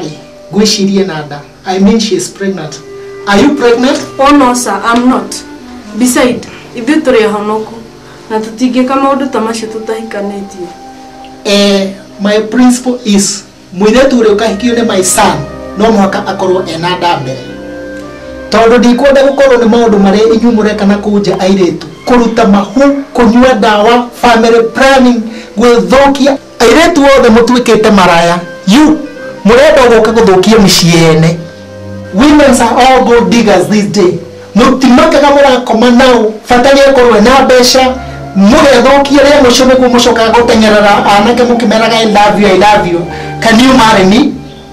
Nĩ ngwĩcirie ena nda. I mean she is pregnant. Are you pregnant? Oh no sir, I'm not. Beside, ithuĩ tũrĩ ahonoku na tũtingĩka maũndũ ta macio tũtahikanĩtie. Eh, my principle is mũirĩtu ũrĩa ũkahikio nĩ my son no mũhaka akorwo ena nda mbere. Tondũ ndikwenda gũkorwo nĩ maũndũ marĩa inyuĩ mũreka na kũu nja airĩtu, kũruta mahu, kũnyua ndawa, family planning, gwĩthũkia. Airĩtu othe mũtuĩkĩte maraya you mũrenda gũka gũthũkia mĩciĩ ene. Women's are all gold diggers this day mũtimakaga mũrakoma nao bata nĩ akorwo ena mbeca mũgethũkia rĩa mũico nĩguo mũcokaga gũteng'erera anake mũkĩmeraga I love you I love you can you marry me?